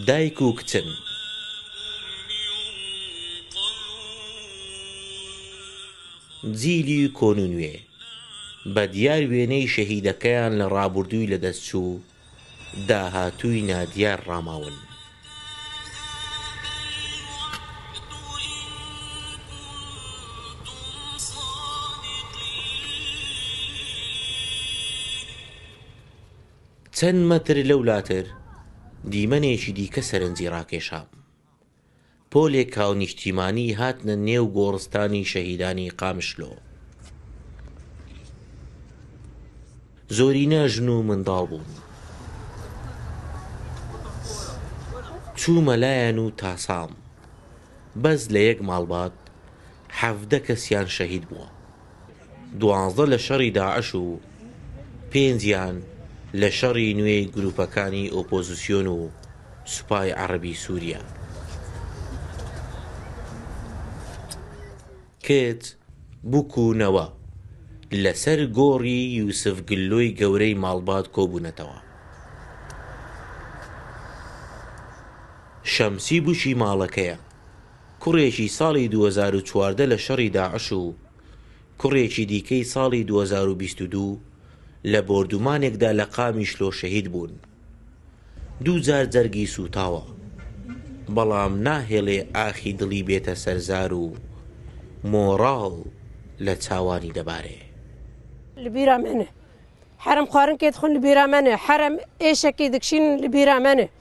دایک و کچن. جیلی کۆن و نوێ بە دیار وێنەی شەهیدەکەیان لە ڕابوردووی لەدەست چوو داهاتووی نادیار ڕاماون. چەند مەتر لەولاتر دیمەنێکی دیکە سەرنجی ڕاکێشام. پۆلێک هاونیشتیمانیی هاتنە نێو گۆڕستانی شەهیدانی قامشلۆ. زۆرینە ژن و منداڵ بوون. چوومە لایان و تاسام. بەس لە یەک ماڵبات حەڤدە کەسیان شەهید بووە. دوازدە لە شەڕی داعش و پێنجیان لە شەڕی نوێی گرووپەکانی ئۆپۆزسیۆن و سوپای عەڕەبی سووریا. کت، بوک و نەوە لەسەر گۆڕی یوسف گلۆی گەورەی ماڵبات کۆبوونەتەوە. شەمسی بوکی ماڵەکەیە. کوڕێکی ساڵی دوو هەزار و چواردە لە شەڕی داعش و کوڕێکی دیکەی ساڵی دوو هەزار و بیست و دوو لە بۆردومانێکدا لە قامیشلۆ شەهید بوون. دوو جار جەرگی سووتاوە، بەڵام ناهێڵێ ئاخی دڵی بێتە سەر زار و مۆڕاڵ لە چاوانی دەبارێ. لە بیرا مەنێ حەرەم خوارن کێ دخون لە بیرا مەنێ حەرەم ئێشەکی دکشینن لە بیرا مەنێ.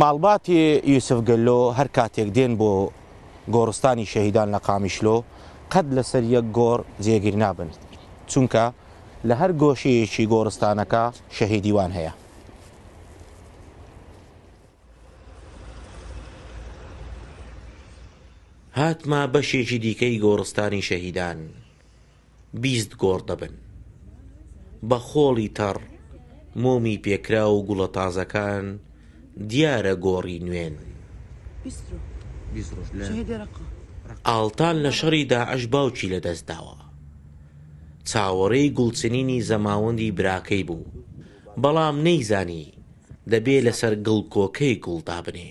ماڵباتی یوسف گەللۆ هەر کاتێک دێن بۆ گۆڕستانی شەهیدان لە قامیشلۆ قەت لەسەر یەک گۆڕ جێگیر نابن، چونکە لە هەر گۆشەیەکی گۆڕستانەکە شەهیدی وان هەیە. هاتمە بەشێکی دیکەی گۆڕستانی شەهیدان. بیست گۆڕ دەبن. بە خۆڵی تەڕ، مۆمی پێکراو و گوڵە تازەکان دیارە گۆڕی نوێن. ئاڵتان لە شەڕی داعش باوکی لەدەست داوە. چاوەڕێی گوڵچنینی زەماوەندی براکەی بوو، بەڵام نەیزانی دەبێ لەسەر گڵکۆکەی گوڵ دابنێ.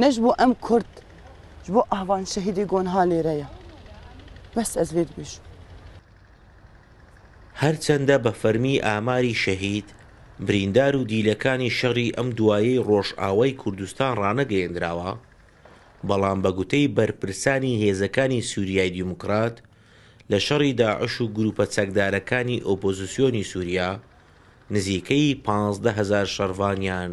نەش بۆ ئەم کورد ژ بۆ ئاڤان شەهیدی گۆن ها لێرەیە بەس ئەز لێت بژ. هەرچەندە بە فەرمی ئاماری شەهید، بریندار و دیلەکانی شەڕی ئەم دوایەی ڕۆژئاوای کوردستان ڕانەگەیەندراوە، بەڵام بە گوتەی بەرپرسانی هێزەکانی سوریای دیموکرات لە شەڕی داعش و گروپە چەکدارەکانی ئۆپۆزسیۆنی سوریا نزیکەی پازدە هەزار شەڕڤانیان